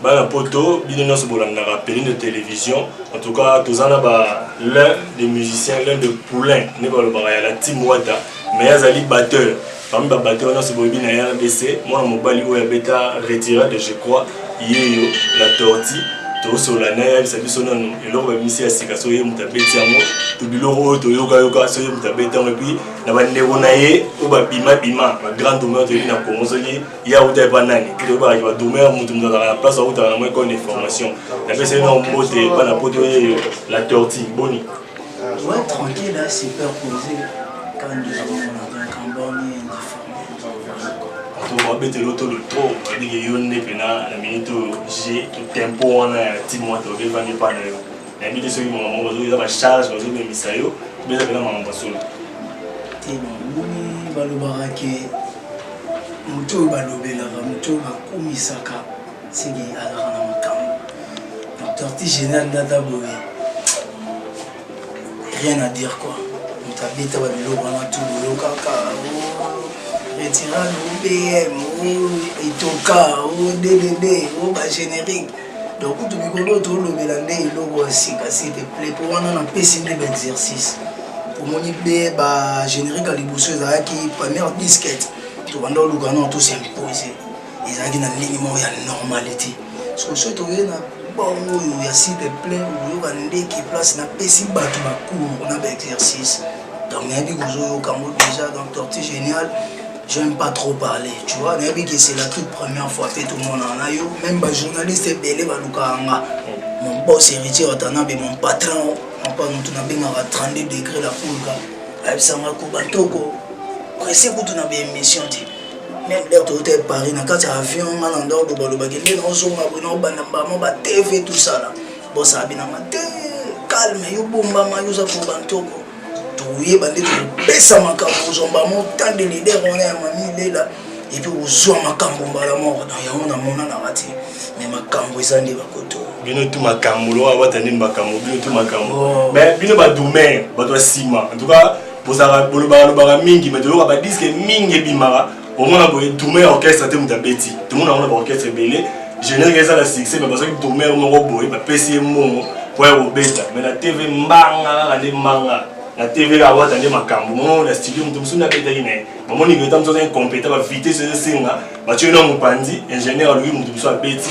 Bana poto bino nionso bolandaka Penindo television en tout cas toza na ba l'un des musiciens l'un de poulain nde balobaka ya la team Wata mais azali batteur parmi ba batteur nionso boyebi na RDC mwana mobali oyo abeta retira de je crois yeyo la tortue tosola naye ayebisa biso nanu eloko babimisi ya sika soki ye moto abeti yango to biloko oyo toyokayoka soki ye moto abeti yango epuis na bandeko na ye oyo babimabima bagrand honneur toyebi na kongo soki ya uta epa nani toyebaka ba domer mutu mutu azalaka na place autaka na mo école de formation napesaki na mbote epa na poto ye la tortue boni ouais tranquille hein, super posé quand nous avons un cambone indifférent babetela otolo trop babike yo nde mpena na minute oyo je tempo wana ya timwa toke evandi epa na yo nayebi te soki makambo yango bazoki eza bacharge bazobemisa yo beza mpena makambo ya solo te bamoni balobaka ke Moto oyo balobelaka, moto oyo bakumisaka seke azalaka na makambo. Donc tortue génial nde ata boye rien à dire quoi. Moto abeta ba biloko wana tu boyokaka retirano bm etoka o ddd o ba générique donc kutu mikolo oyo tolobela nde eloko ya sika s'il te plaît mpo wana napesi nde baexercice omoni mpe bagénérique ya liboso ezalaki première disquete tobanda oluka nao tosimpose ezalaki na ndenge moko ya normalité soki soki toye na bongo oyo ya s'il te plaît okoyoka ndeke place napesi bato bacour na baexercice donc nayebi kozoyoka yango déjà donc torti génial J'aime pas trop parler, tu vois, nayebi que c'est la toute première fois pe tomonana na yo, même ba journalistes ebele balukaka nga. Mon boss héritier Watanabe, mon patron, papa mutu nabengaka 32 degré la pulga, ayebisa nga koba toko presse kutu na ba émission te. Même leo toyota ya Paris na kati ya avion nga na ndako balobaki nde naozonga boye naobanda mbamo ba TV tout ça là. Boss abi na nga te, calme, yo bombama, yo oza koba ntoko. toyeba nde tokopesa makambo kozwa mbamo temps de leader wana ya mami lela epuis kozwa makambo mbala moko donc yango namonanaka te mais makambo eza nde bakoto bino tu makambo lokola wata nde makambo bino tu makambo oh. mais bino badomaire bato ya nsima en tout cas bozalaka bolobaka lobaka mingi mais toyoka badiske mingi ebimaka omona boye tourme ya orchestre te moto abeti tomona yango na baorchestre ebele générique eza na succès mais bazwaki tourme yango moko boye bapesi ye mbongo mpo ya kobeta mais na tv mbanga kaka nde mbanga na tv kaka wata nde makambo moko na studio moto mosusu nde abetaki na ye bamoni leta mosusu aza incompétent bavitese ezosenga batyo ye na mopanzi ingénieur alobi moto mosusu abeti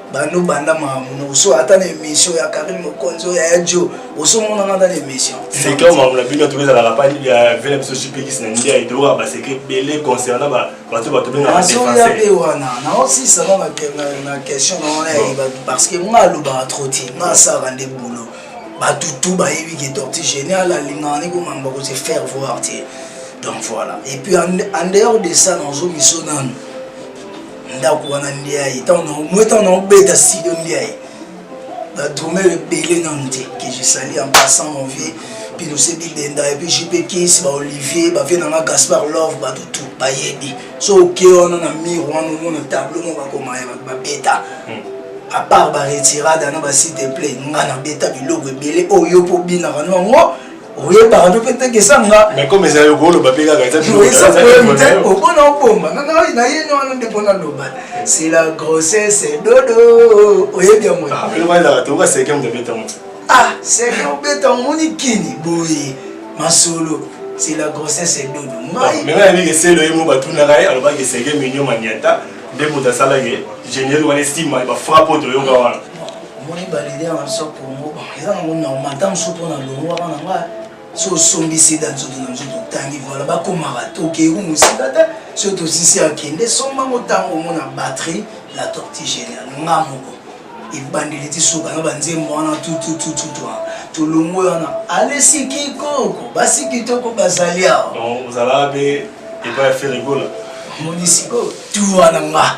bando banda mamuna oso ata na émission ya karine mokonzi oyo yaya jo osomonana ata na émission secret mamuna bino toki ezalaka pa ya vele biso jpx na ndiaye toyokaka basecret ebele concernant bato bato bengasoya mpe wana naosisa no na question na wana ya bato parce que nga alobaka trop te nga asaka nde bolo bato tu bayebi ke torti génial alingaka nde komamba kose faire voir te donc voilà et puis en dehors de ça nazo miso nanu ndako wana ndiaye mwe ntango naobeta sido ndiaye badrumere ebele nanu te que je sali en passant mon vieux pilose bibenda epuis jp kis baolivier bavie nanga gaspard love bato tu bayebi so oke wana na mire wana omona tableau moko bakomaya bato babeta hmm. apart baretirada na basite play nga nabeta biloko ebele oyo mpo obinaka nango oyebaka to mpe tekesa nga mais comme ezali okoloba mpe kaka eza te opona obomba nga ngai na ye wana nde mpona loba c'est la grossesse dodo oyebi yango elokazaka te okaseke moto abeta moto ah seke obeta omoni kini boye masolo c'est la grossesse et dodo ngai mais ngai ndenge selo ye mo batunaka ye alobaki seke minyo maniata nde moto asalaki géniel wana esima ba frappe oyo toyoka wana omoni ba leader na biso ya congo eza nango normal ntango mosusu mpo na longo wana na ngai so osombi sida nzoto na nzoto otangi voila bakomaka te okeyi mosika te soki tosisi akende somba ngo ntango omona batterie la torti génial nga moko ebandeli ti soka na banzembo wana tutututu wana tolongwe wana alesi kikoko basi kitoko bazali awa ozalaka mpe epai ya ferigola omoni sikoyo tu wana nga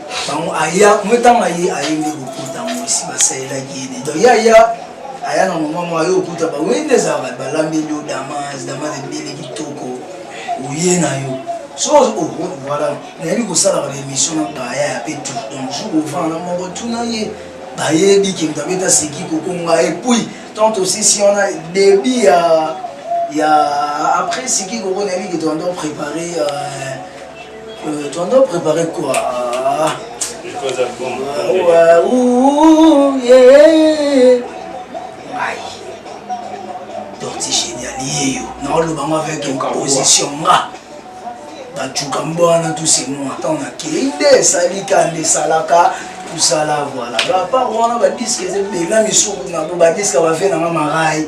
Tango aya, mwe tango aye aye nde lokuta mwe si basalelaki ye nde. Donc ya ya aya na moment mwa yo okuta ba wende ezalaka balambeli yo damas, damas ebele kitoko oye na yo. So oh, oh voilà, nayebi kosalaka ba émission na baya ya pe tout. Donc jour ovant na moko tuna ye bayebi ke moto abeta seki kokonga et puis tant aussi si on a débit ya ya après seki kokonga nayebi ke toando préparer euh, Euh, tu en dois préparer quoi ah, ouais, ouh, yeah. Torti génial, yeyo. Non, le bango avec une composition, nga. Bachuka mbwana, tout c'est moi. Attends, on a qui est salika, des salaka. kusala voilà apart wana badisque eza ebela misuku na bo badisque bavie nanga marai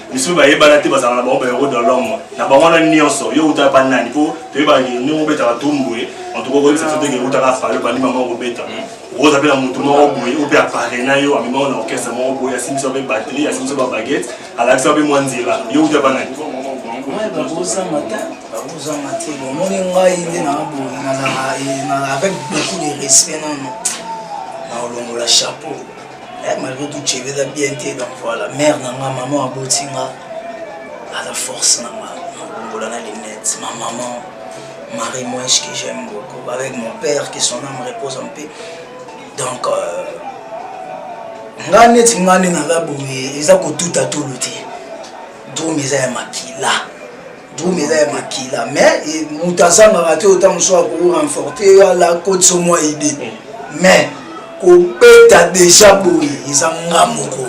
misusu bayebana te bazala na bango baero de l'homme na bango wana nyonso yo utaka pa nani mpo toyebaka ndenge obetaka tumbwe antuka okoyebisa biso ndenge utaka fale obandi mama okobeta oza mpe na motu moko boye oyo mpe aparena yo amemao na orchestre moko boye asimbisa mpe batterie asimbisa ba baguette alakisa mpe mwa nzela yo utaka pa nani bakozanga te bomoni ngai nde naa boye nazala eh, avec beaucoup de respect nano naolongola chapeau Eh, malgré tout cheve eza bien te donc voilà mère na nga maman aboti nga aza force na nga nakombola na linete ma maman marie moesh que j'aime beaucoup avec mon père que son âme repose en paix donc euh, nga neti nga nde naza boye eza kotuta tolo te drome eza ya makila drum eza ya makila mais eh, moto azangaka te ota mosusu akorenforte alakotisa mwa ide mais kobeta deja boye eza nga moko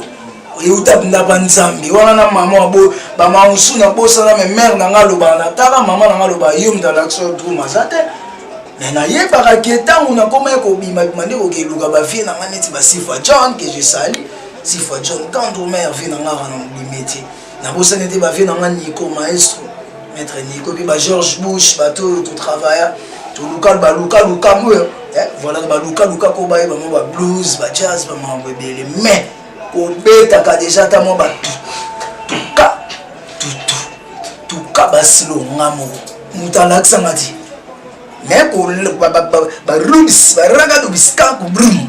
euta ndaba nzambe wana na mama wabo bamama mosusu nabosana me mare na nga alobaka na tala mama na nga aloba yo moto alakisa drum aza te me nayebaka ke ntango nakomaki kobimabima nde kokeluka bavie na nga neti basifa john ke je sali sifa john tendre mare vie na nga wana mobimi te nabosani te bavie na nga nico maestro maître nico mpe ba george bush bato oyo totravailla toluka baluka lukambo oyo eh, voilà baluka luka ko baye bango ba blues ba jazz bamambo ebele mais kobetaka deja ata mwa batu tuka tutu tuka basilo nga moko moto alakisa nga ti mais barudis baragado biskanku brum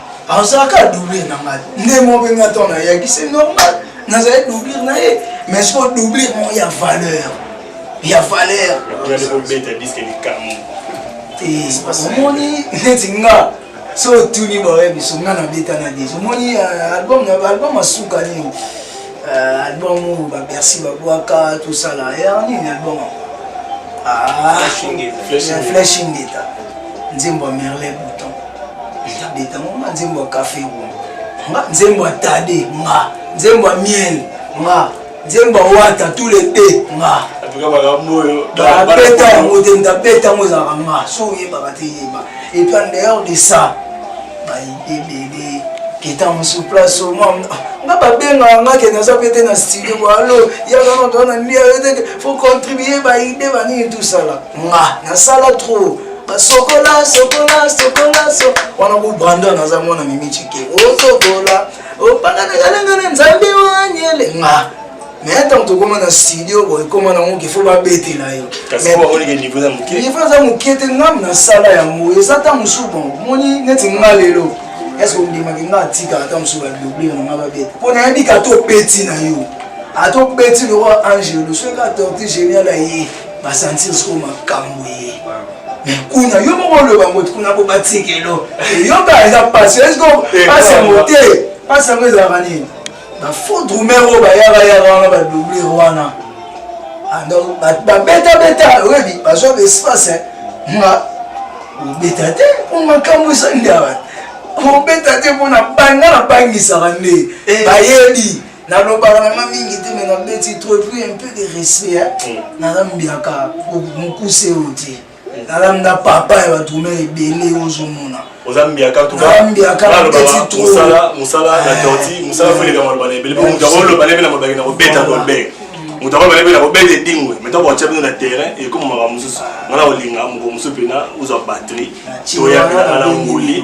azalaka doublure na ngai nde mo mpe ngai to nayaki se normal nazali doublure na ye mais siko doublure mo ya valeur ya valeur omoni neti nga so otuni baoye biso nga nabeta na deja omoni euh, album album asuka nini euh, album oyo babersi babwaka tosala ya nini album ah, flashingeta nzembo ya merle bouton Beta ngo nga nzembo ya cafe ngo nga nzembo ya tade nga nzembo ya miel nga nzembo ya wata tous les deux nga ndabeta yango te ndabeta yango ezalaka nga so oyebaka te yeba epuis en dehors de ça bayebele keta mosu place omwa nga babengaka nga ke naza mpe te na studio boalo yaka noto wana ndia yo te fo contribue baide banini tosala nga nasala trop basokola sokola sokola so wana ku brandon aza mwana mimi chike osokola opanganakalenga na nzambe wanyele nga mais ntango tokoma na studio boye ekoma nango ke fo babetela yo niveau eza moke te ngam nasala yango eza ta mosusu bon moni neti nga lelo eske ondimaki nga atikaka ta mosusu babioblia na nga babeta mpo nayebi ka topeti na yo atopeti lokola angelo soki ka torti genial aye ba sentir siko makambo ye mais kuna yo moko oloba ngo kuna po batikelo eyoka eza pasi esko pasi yango te pasi yango ezalaka nini bafaux drumer oyo bayaka yaka wana badoublure wana ah, donc babetabeta oyebi bazwa baespace nga obeta te mpo makambo esali nde awa obeta te mpo na banga na bangisaka nde eh. bayebi nalobaka na nga mingi te me nabeti trop epuis un peu de respect mm. naza mbiaka mokuse oyo te mm. nalamda papa ya bato me ebele ozomona oza mbiaka tukaosala na torti mosala koleka maloba na ebele moto akoloba na ebele na mabaki na kobeta kolbek moto akoloba na ebele na kobeta edingwe me ntango batya bino na terrain ekomamaka mosusu nga na kolinga moko mosusu mpena ozwa batterie toya mpena nga na nguli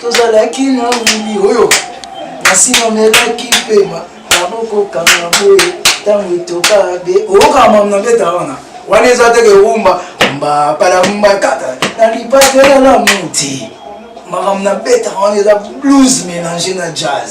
tozalaki na wili oyo kasi namelaki mpema nabokokanga boye ntango etoka be oyoka mamu na mbeta wana wana eza teke rumba mbapalambakata na lipatelala muti makambo na betaka wana eza blues mélange na jazz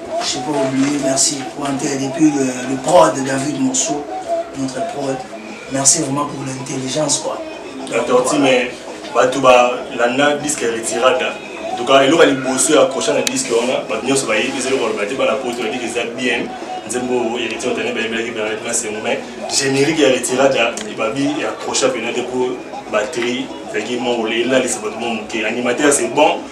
Je n'ai pas oublié, merci pour Intel. Et puis le, le prod de David Morceau, notre prod. Merci vraiment pour l'intelligence. quoi. Attends, voilà. mais bato balanda disque ya retirada entuka eloko ya liboso ya accrocha na disque wana bato nyonso bayebi eza eloko baloba te bana poto badiki eza bien nzembo oyo héritier otane bayebelaki bernard na sengo mais générique ya retirada ebabi ya accrocha mpena te mpo batterie ezalaki mongole elalisa bato mo moke animateur c'est bon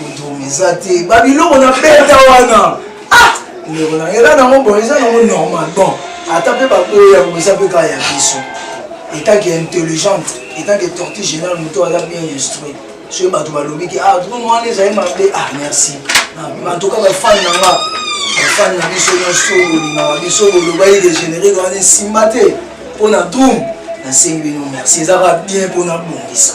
Motomi eza te ba biloko na beta wana ah! ndeko na ela nango boye eza nango normal bon ata mpe baboyi yango eza mpe kaka ya biso etanke intelligente etanke torti général moto aza bien instruit soki bato balobi ke ah drone wana ezali mabe ah merci antuka bafani na nga bafani na biso nyonso bolingaka biso bolobaki dégénéré wana esimba te mpo na drum nasengi bino merci ezaka bien mpo nabongisa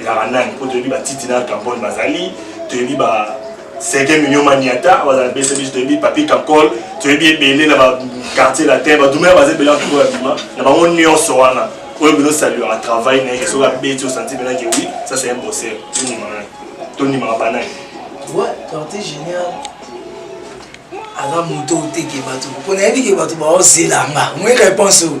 ezalaka nani mpo toyebi batiti na campone bazali toyebi ba sege mignon maniata bazala na bese biso toyebi papi kakol toyebi ebele na baquartier latin badumela baza ebele antoko ya bima na bango nyonso wana oyo bino saluaka travail na ye soki abeti osanti mena ke oui ça c'est un bosser tondimaka tondimaka banani ouais quartier génial aza moto oteke bato mpo nayebi ke bato baozelanga moi réponse oyo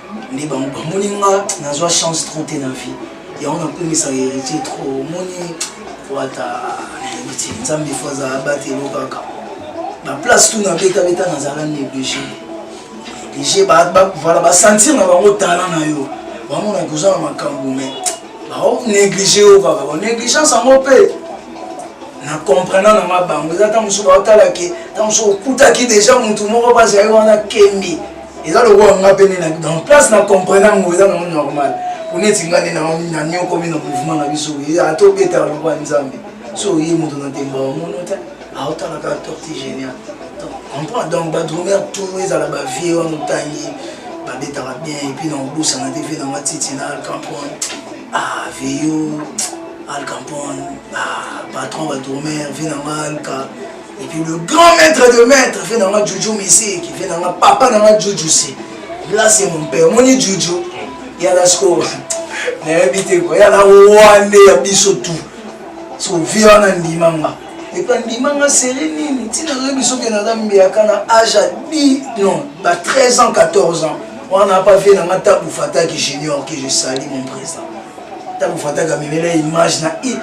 nde bamoni nga nazwa chance trop te na vie yango nakumisaka héritier trop omoni wata nayebi te nzambe fo aza abatelo kaka baplace tu nabetabeta nazala néglige néglige vala basentir na bango tala na yo bamona koza na makambo me baonéglige yo kaka banégligence yango mpe na comprena na nga bango eza ntango mosusu baotala ke ntango mosusu okutaki deja motu moko bazali wana kembi eza lokola nga mpe nde dans place na comprendre yango eza nango normal mpo neti nga nde naniokomi na mouvement na biso ata obetaka lokola nzambe so oye moto na ntemba omono te aotala kaka torti génial comprendre donc badrumer tout ezala bavie wana otangi babetaka bien epuis na obosana te vie na nga titi na alcampon ah veyo alcampon ah patron badrumer vie na nga alka Et puis le grand maître de maître fait nanga Juju Messi qui fait nanga papa nanga Juju si. Là c'est mon père, mon Juju. Il y a la score. nayebi te ko ya na wande ya biso tu so vi wana ndima nga epa ndima nga seri nini ntina oyebi soki naza mbeyaka na age ya di non ba 13 ans 14 ans wana apa vie na nga tabu fataki junior ke je sali mon président ntango fataka memela image na i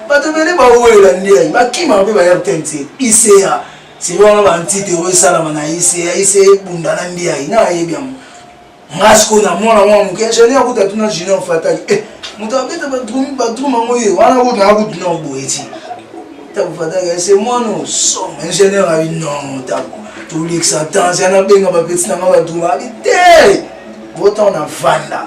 bato ebele bawelela ndei bakima mpe baya rtnc ica selo wana bantite oyo esalama na ica ica ebunda na ndei na ayebi yango nga sikoyo na mwana mwa moke ingenieur kuta tuna junior fataki eh, moto abeta badruma ngo ye wana kutu na kutu na boye ti ntango fataki ese eh, mwana osom ingenieur abi non ntango tolekisa temps yana benga bapeti na nga badruma abi te botan na vanda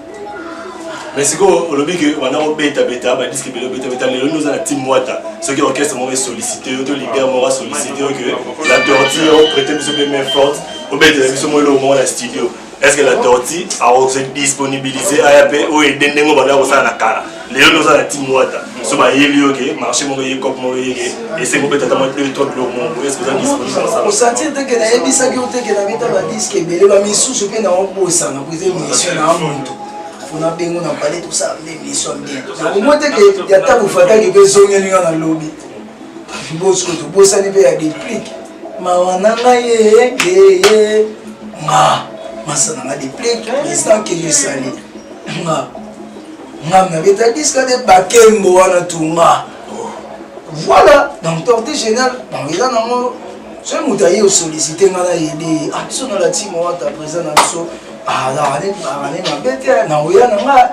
mais sikoyo olobi ke banda kobetabeta badiske ebele obetabeta lelo nde oza na team wata soki orchestre moko esollicite yo to leader moko asollicite yo ke la tortille oprete biso mpe main forte obetela biso mwa eloko moko na studio est ce que la tortille akose disponibilise aya mpe oyo ede ndenge obanda kosala na kala lelo nde oza na team wata so bayeli yo ke marché moko eye cop moko eye ke esengo mpe tata mwaki oyo tokilo mongo ese oza disponiosantire teke nayebisaki yo teke na beta badiske ebele bamisusu mpe naobosana mpo eza emission na muntu fona bengo na pale tosala nde emission bien nakomo teke ya ntango fataki mpe ezongeli nga na lobi bosko tobosani mpe ya deplic mawa na ngai yeyeye ma masana nga deplic président keyosali ma Nga na beta disque de bakembo wana tunga. Voilà, donc tortue génial, donc eza nango soki moto aye osollicite nga na yede ah biso na latimo wata présent na biso azalaka ah, ne mabe te na oya na nga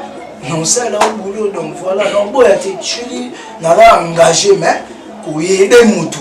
na osala o boulot donc voilà donc boya te chili naza engagé mais koyede motu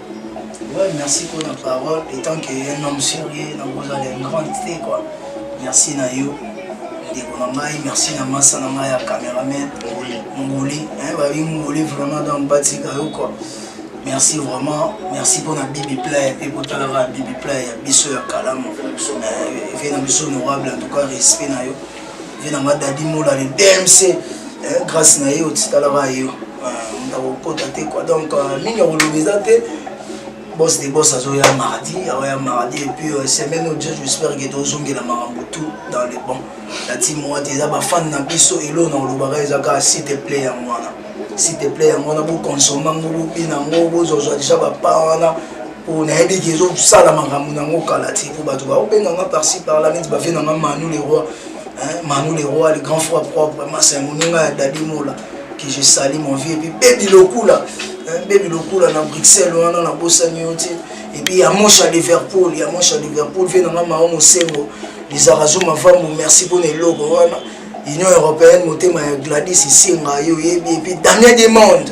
Ouais, merci pour la parole. Étant qu'un homme sérieux, na vous allez un grand thé quoi. Merci na yo. Ndeko na ngai, merci na masa na ngai ya cameraman. Ngoli, hein, ba bi ngoli vraiment dans batika yo quoi. Merci vraiment, merci pour la Bibi Play et pour la Bibi Play, biso ya kalamu. Euh, et na biso honorable en tout cas respect na yo. vie na nga dadi mola le dmc eh, grâce na ye otitalaka yo eh, ndakokota te quoi donc euh, mingi akoloba eza te boss de boss azoya mardi aoya mardi epuis euh, semaine oyo jesu espère ke tozongela makambo tout dans le bon nati moa te eza bafane na biso eloo na olobaka eza kaka site play yango wana site play yango wana bokonsoma yango bobina yango bozozwa deja bapa wana oyo nayebi ke ezosala makambo nango kala ti mpo bato baobenga nga parci parla neti bavie na nga manu le roi manu le roi le grand fois propre masa moninga ya dadi mola que je sali mon vie epuis bebi lokula bebi lokula na bruxelles wana nabosani yo ti epuis ya moshe ya liverpool ya moshe ya liverpool vie na nga mao mosengo lizarazo mavambo merci mpona eloko wana union européenne motema ya gladis isenga yo oyebi epuis daniel demande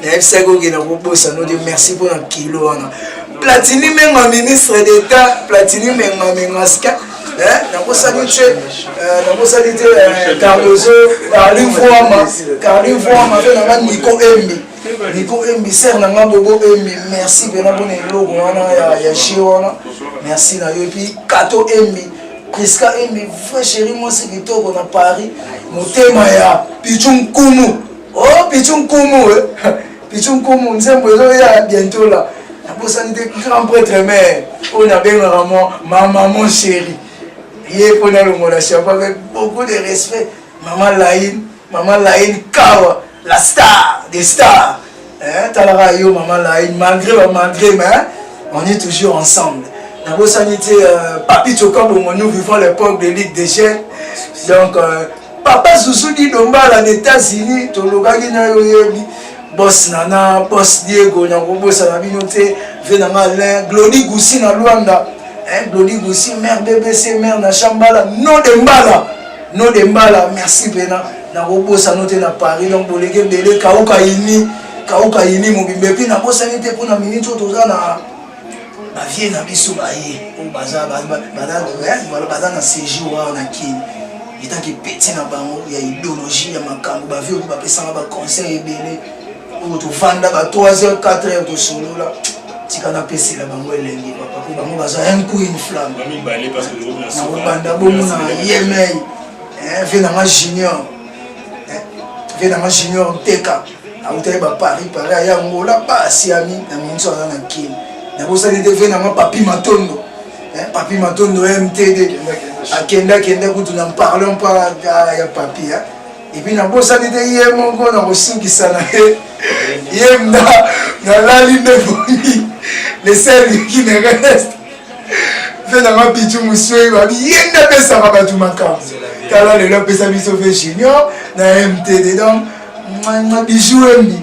nayebisaki okenda kobosa no te merci mpona kilo wana platini menga ministre d'état platini menga mengaska nakosani te euh, nakosani te euh, cardozo carli voama carli voama mpe nanga niko embi niko embi ser nanga bobo embi merci mpena mpona eloko wana ya jeu wana merci na yo epuis kato embi priska embi vrai chéri mwasi kitoko na paris motema ya pichu nkumu Oh Pichu Nkumu, eh. Pichu Nkumu, nzembo ezo ya bientôt là. Na bosani te grand prêtre mère, oyo na bengaka moi maman mon chéri. Ye mpo na longola chapeau avec beaucoup de respect. Maman Laïne, maman Laïne Kawa, la star des stars. Hein, talaka yo maman Laïne, malgré ba malgré mais hein, on est toujours ensemble. Na bosani te euh, Papi Choka Bongo, nous vivons l'époque de Ligue des Jeunes. Donc euh, Papa Zuzu di Dombala na Etats-Unis tolobaki na yo yebi boss Nana, boss Diego na kobosana bino te, vie na nga Alain, Glody Gusi na Luanda, hein, eh, Glody Gusi, mère BBC, mère na Chambala, no de Mbala, no de Mbala, merci pena, na kobosana te na Paris, donc boleke bele kauka ini, kauka ini mobimbe, puis na bosani te pona minute oyo toza na bavie na biso baye oyo baza na séjour wana na kini Etake petit na bango ya ideologie ya makambo ba vieux ba pesanga ba conseil ebele oyo to vanda ba 3h 4h to solola tika na pesela bango elengi papa ko bango baza un coup une flamme ba mibale parce que na so banda bomo na yemei eh vie na ma junior eh vie na ma junior teka awutaki ba paris paris aya ngola ba asiami na minso aza na kin na bosani te vie na ma papi matondo Eh, papi matondo mtd akenda akenda kutu na parlant pa ah, ya papi eh. epuis nabosani te ye moko na kosinkisa na ye ye mna nalali nde boyi leseliki ne reste mpe nanga pichu moswei babi ye nde apesaka bato makambo tala lelo apesa biso mpe junior na mtd donc bijou embi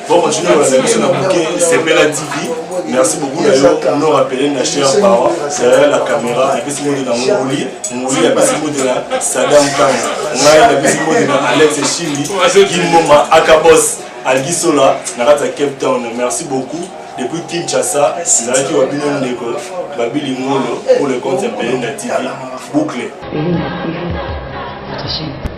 Bon, continuez à la mission à bouquet, c'est Bella TV. Merci beaucoup d'ailleurs, on nous rappelé la chère Bawa, derrière la caméra, et puis c'est moi de la Mongolie, Mongolie, et puis c'est moi de la Saddam Khan, Naï, et puis c'est moi de la Alex Chili, Gimoma, Akabos, Algisola, Narata Cape Town. Merci beaucoup. Depuis Kinshasa, nazalaki wabino ndeko babili ngolo pour le compte ya Belenda TV. Boucle. Belenda TV, votre chaîne.